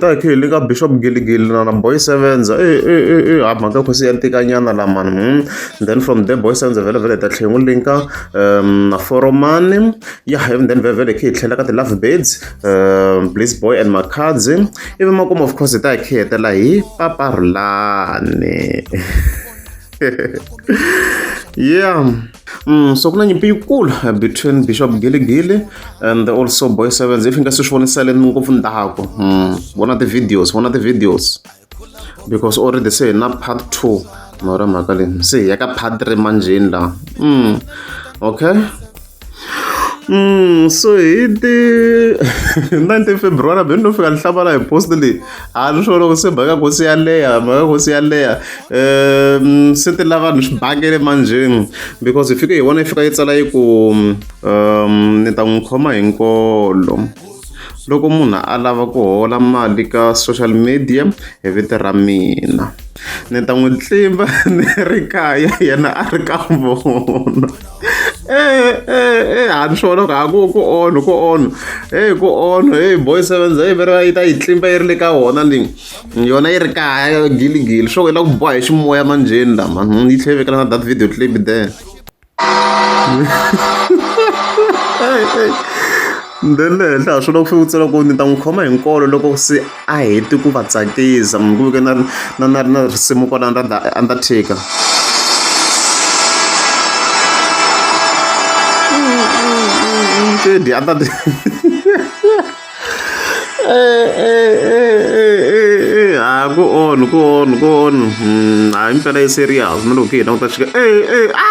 ta khe le ka bishop giligili na na boy sevens ha mhaka khosi ya ntikanyana lamani hmm. then from there boy sevens vhele vhele ta tlhengu linka um, na foromani ya hem then vhele vhele khe hi tlhela ka ti-love beds um, bliss boy and makhadzi ivi makumu of course hi ta hi khe hetela hi paparulani yeah Mm, so ku na nyimpi yikulu uh, between bishop giligili and also boy sevens if nga se swi voniseleni ngopfu ndhaku mm, vona ti-videos vona ti-videos because already se hi na part two mara mhaka leyi se hi ya ka part three manjheni laha mm, okay Mm, so hi ti 19 february beni no fika ni hlamala hi post leyi a swi swi loko se mhaka kosi yaleya mhaka kosi yaleya um se ti lava ni swi bakele manjheni because hi fike hi vona yi fika yi tsala yi ku um ni ta n'wi khoma hi nkolo loko munhu a lava ku hola mali ka social media hi vito ra mina ni ta n'wi tlimba ni ri kaya yena a ri ka vona Eh, eh, eh, a ni swi vona ku a ku ku onho ku onho heyi ku onho heyi boy sevens heyi veri va yi ta yi tlimba yi ri le ka wona leyi yona yi ri kaya giligili swo yi la ku boha hi ximoya manjheni lama hmm, yi tlhe vekela na that video clip there le henhla ha swona ku fanele u tsala ku ni ta n'wi khoma hi nkolo loko se a hete ku va tsakisa munhu ku veke na na na na risimu kwala ra the undertaker Teddy, I'm not. ha ku on ku on ku on hayi mpela yi serious na loko hi languta xika e e a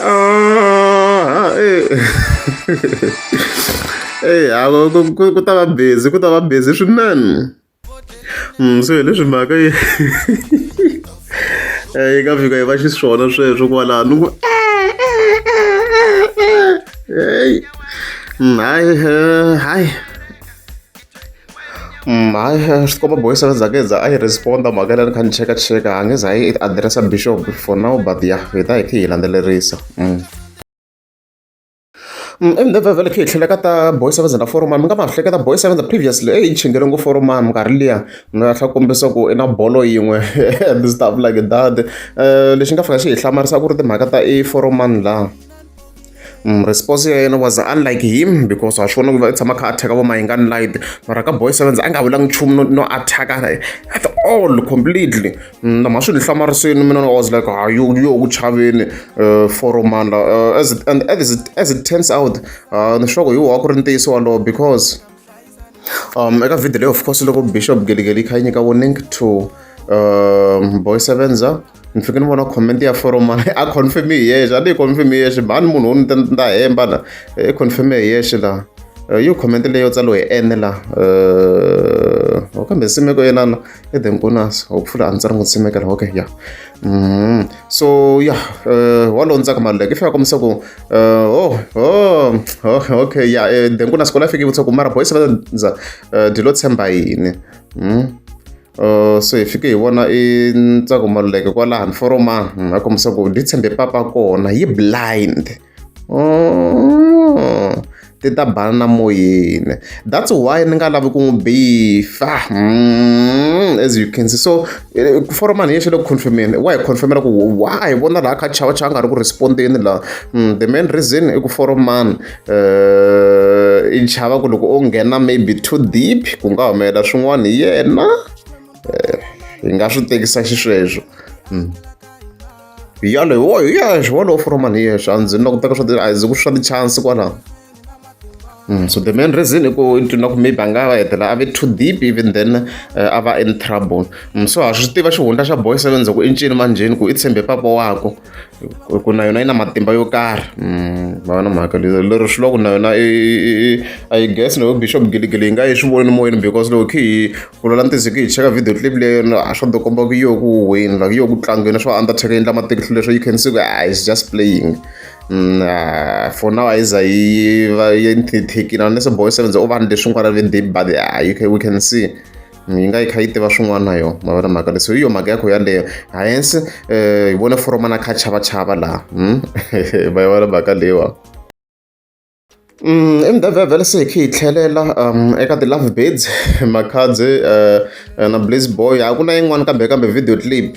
Ah, eh. Eh, ah, ku- ku- ku ta va busy ku ta va busy swinene Mm, so hi leswi mhaka yi Eh, yi nga fika yi va xiswona sweswo kwalano ni ku Hey. Mm, hayi eh, hayi Hayi swikomba boys a ni za ni za a yi respond-a mhaka leyi a ni kha ni chekacheka a nge za a yi adirese bixop for now but ya hi ta hi khe hi landzelerisa ivi ni vhele khe hi tlhela ka ta boy seven na foromami mi nga ma hleketa boy seven previously eyi ni chingele ngo foromami nkarhi liya ni nga tlha kombisa ku i na bolo yin'we and stuff like that lexi nga fika xi hi hlamarisa ku ri timhaka ta i foromani laha Mm, response ya yena was unlike him because wa swi vona ku va tshama kha attack vo mayingani light mara ka boy sevens a nga vulanga nchumu no, no attack at all completely mm, nama swi ni hlamarisini mina was like ha yo yo ku chaveni uh, foroman la uh, as it, and as it, as it turns out uh, ni swa ku hi wa ku ri ntiyiso walowo because um eka vhidi leyi of course loko bishop geligeli yi kha yi nyika warning to um boy sevenza ni fike ni vona comment ya foroma a confirm hi yexe a ni yi confirm hi yexe mhani munhu wo ni ta ni ta hemba la i eh, confirm hi yexe la eh, yo comment leyo tsalo hi ene la um kambe simeko yenana e the nkonas hopefully a ndzi ri n'wi tshimekela okay ya mm-hmm. so ya eh, wa londzaka maluleke i fika kombisa ku eh, oh, oh, oh okay ya eh, the nkonas kola fike vutisa ku mara boys va ndza dyi lo tshemba yini mm-hmm. so hi fike hi vona i ntsako maluleke kwalaha ni foroma mm, a kombisa ku dyi tshembe papa kona yi blind ti ta bana na moyeni that's why ni nga lavi ku n'wi bifa hmm, as you can see so eh, ku fora mani yexe le ku confirmeni wa hi confirmela ku wa hi vona laha kha chava chava nga ri ku respondeni laha hmm, the main reason i ku fora mani eh, i chava ku loko o nghena maybe too deep ku nga humelela swin'wana hi yena eh, hi nga swi tekisa xisweswo hmm. yalo hi wo hi ya hi wolowo for mali yeyo swa ndzi na ku teka swa ti a ndzi ku swa ti-chance kwalaho Mm, so the main reason i ku ni ku maybe a nga va hetelela a ve too deep even then uh, a va in trouble mm, so ha swi tiva xihundla xa boy seven ku i ncini manjheni ku i tshembe papa wako ku na yona yi na matimba yo karhi mm, va na mhaka lero swi loko na yona i guess loko bishop giligili yi nga yi swi voni moyeni because loko khi ku lwela ntiyiso hi ku hi cheka video clip leyi yona a swo dokomba ku yo ku huhweni like yo ku tlangiweni swa undertaker yi endla matihlo leswo you can see ku ah is just playing nah, for now a yi za yi va yi nthithikile unless boy seven ze u vanhu leswi nkwara ve deep but ah, you can, we can see yi nga yi kha yi tiva swin'wana na yona mavona mhaka leswi hi yo mhaka ya kho yaleyo hayense um eh, hi vone foromana kha chava chava laha hmm? va yi vona mhaka leyiwa Mdavhavhela se hi kha hi tlhelela eka ti-love birds, Makhadzi na Blizz Boy. A ku na yin'wani kambe kambe video clip.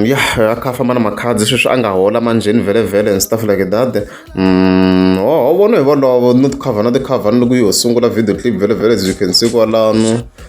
Ya a kha a famba na Makhadzi sweswi a nga hola manjheni vhelemvele and stuff like that. Hono hi volovo no ti-cover na ti-cover ni loko yo sungula video clip vhelemvele as you can see kwalano.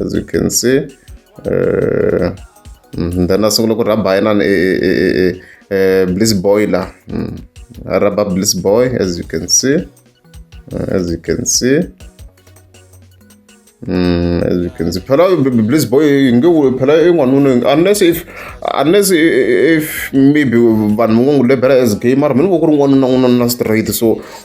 as you can see uh, mm, then a sungula ku rhaba yinani e, e, e, e, bliss boiler mm. a rhaba bliss boy as you can see uh, as you can see Mm, as you can see, phela bliss boy ngiwu phela ingwanunu unless if unless if maybe vanhu va ngo ngu lebela as gamer mina ku ri n'wanuna n'wanuna straight so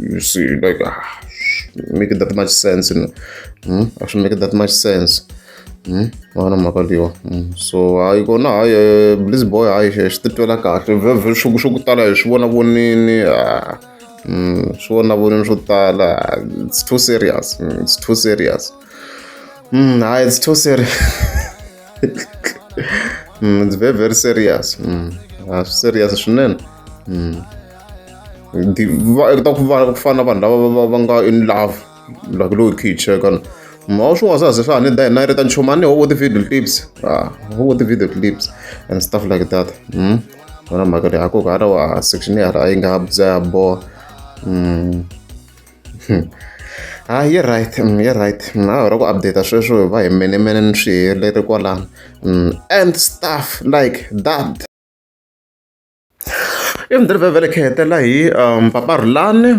you see like ah, make it that much sense you know hmm? actually make it that much sense hmm? vana mhaka leyiwa hmm. so hayi kona hayi eh, bliz boy hayi eh, swi titwela kahle vhevhe swo swo ku tala hi swi vona vonini ah, swi vona vonini swo tala ah, it's too serious it's too serious hayi it's too serious it's very very serious swi serious swinene ndi va u ta ku va ku fana na vanhu lava va va nga in love like lowu khe yi cheka ni ma wa swin'wana swa ze swa ha ni da hina yi ri ta nchumu a ni ho vo ti-video clips a ho vo ti-video clips and stuff like that um ona mhaka leyi hakoku hala wa section yala a yi nga bya ya boha um ha yi right yi right a hi ra ku update sweswo va hi menemene ni swi helele kwalano and stuff like that ivi ni ri vevelekhehela hi mpaparhulani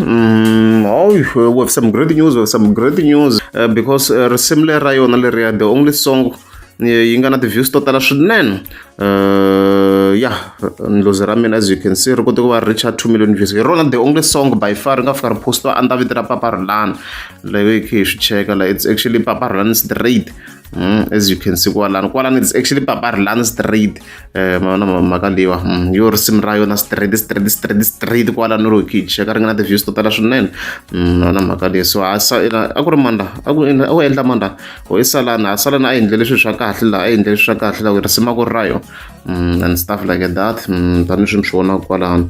we've some great news we've some great news because risimu leri ra yona leriya the only song yi nga na ti-views to tala swinene ya ndlozi ra mina as you can see ri kote ku va ri reacha two million views hi rona the only song by far ri nga fika ri postiwa a ni ta vito ra paparhulani leyi hi swi cheka la it's actually paparhulani straight Mm, as you can see kwalano kwalano it's actually paparilani street eh, maona mhaka leyiwa mm, yo risimu ra yona street street street street kwalano ro kicha ka ri nga na ti-views to tala swinene mm, maona mhaka leyi so a a ku ri manda a ku endla manda o i salana a salana a endle leswi swa kahle laha a endle leswi swa kahle laha ku risimu a ku ri ra yo and stuff like that tanihi swi mi swi vonaka kwalano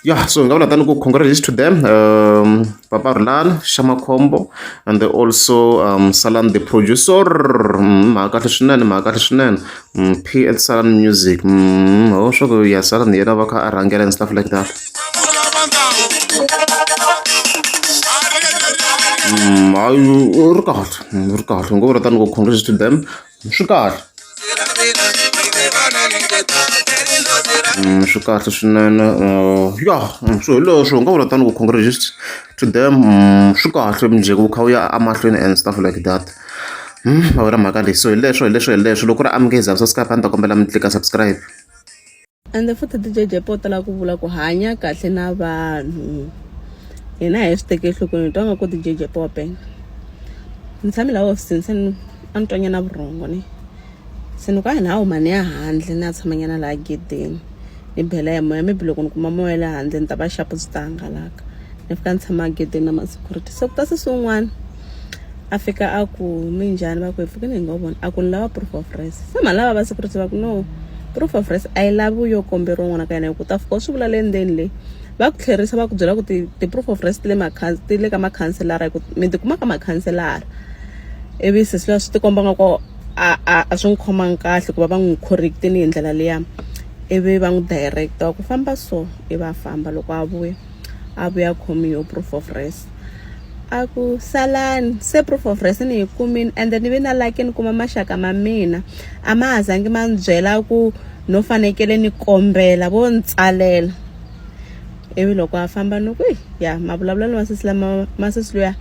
ya so hi nga vula tani ku congratulations to them um, papa rulan xamakhombo and they also um, salan the producer mm, mhaka kahle swinene mhaka kahle swinene mm, pl salan music mm, ho swa ku ya salan yena va kha a rhangela and stuff like that hayi ri kahle ri kahle ngo vula tani ku congratulations to them swi kahle swi kahle swinene ya swo hileswo u nga vula tani ku congratulations to them swi kahle mujeko wu kha wu ya emahlweni and stuff like that a wu ri mhaka leyi so hileswo hileswo hileswo loko ku ri amukeza so skype a ni ta kombela mi tlika subscribe ende futhi ti-jjp o tala ku vula ku hanya kahle na vanhu hina hi swi teke enhlokweni hi twa nga ku ti-jjp wa penga ni tshame laha hofisini se ni a ni twanyana vurhongo ni se ni ku a hi ni a huma ni ya handle ni ya tshamanyana laha gedeni ni bela ya moya maybe loko ni kuma moya ya le handle ni ta va xapu byi ta hangalaka ni fika ni tshama gedeni na ma-security se ku ta se swin'wana a fika a ku minjhani va ku hi pfukile hi ngo vona a ku ni lava proof of res se mhani lava va security va ku no proof of res a yi lavi yo komberiwa n'wana ka yena hi ku ta fika u swi vula le ndzeni leyi va ku tlherisa va ku byela ku ti-proof of res ti le ti le ka makhanselara hi ku mi tikuma ka makhanselara ivi sesi luya swi tikomba nga ku a a a swi n'wi khomangi kahle ku va va n'wi correctini hi ndlela liya ivi va n'wi directa wa ku famba so ivi a famba loko a vuya a vuya khomi yo proof of res a ku salani se proof of rest ni yi kumini ende ni ve na lucky ni kuma maxaka ma mina a ma ha zangi ma ni byela ku no fanekele ni kombela vo ni tsalela ivi loko a famba ni ku ya mavulavulelo ma sesi lama ma sesi luya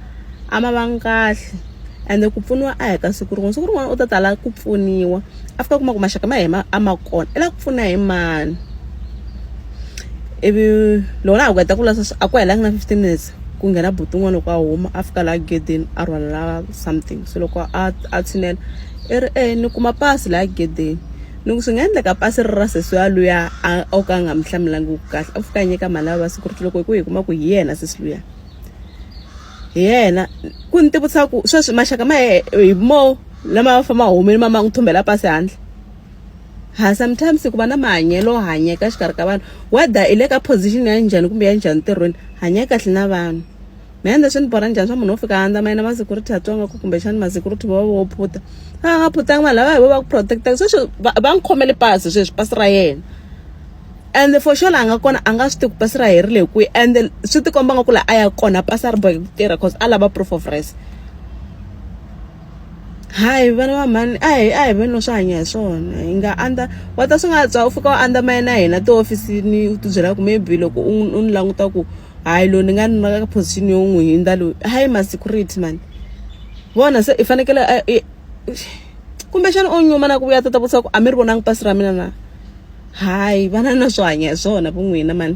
a ma vangi kahle ende ku pfuniwa a hi ka siku rin'wana siku rin'wana u ta tala ku pfuniwa a fika kuma ku maxaka ma hina a ma kona i la ku pfuna hi mani ivi loko la ha ku heta ku lasa a ku helanga na fifteen minutes ku nghena buti un'wana loko a huma a fika laha gedeni a rhwalela something se loko a a tshinela i ri e ni kuma pasi laha gedeni ni ku swi nga endleka pasi ri ra sesi ya luya a o ka a nga mi hlamulangi kahle a fika a nyika mali ya vavasati ku ri loko hi ku hi kuma ku hi yena sesi luya. hi yena ku ni tivutisa ku sweswi maxaka ma hi mo lama ma famba humile ma ma n'wi thumbela pasi handle ha sometimes ku va na mahanyelo hanyeka exikarhi ka vanhu whether i le ka position ya njhani kumbe ya njhani ntirhweni hanya kahle na vanhu me ende swi ni borha njhani swa munhu wo fika andza ma yena ma security a tsonga ku kumbexani ma security va va vo phuta a va nga phutanga vanhu lava hi vo va ku protect-aka sweswi va va n'wi khomele pasi sweswi pasi ra yena and for sure laha nga kona a nga swi tivi ku pasi ra herile hi kwihi and swi tikomba nga ku laha a ya kona pasi a ri boheki ku tirha cause a lava proof of res hayi vana va mhani a hi a hi veni swi hanya hi swona hi nga andza wa ta swi nga tswa u fika u andza maye na hina tihofisini u ti byela ku maybe loko u u ni languta ku hayi loyi ni nga ni ka position yo n'wi hindza loyi hayi ma security mani vona se i fanekele kumbexana o nyuma na ku vuya ta ta vutisa ku a mi ri vonangi pasi ra mina na hayi vana na swo hanya hi swona vu n'wina mani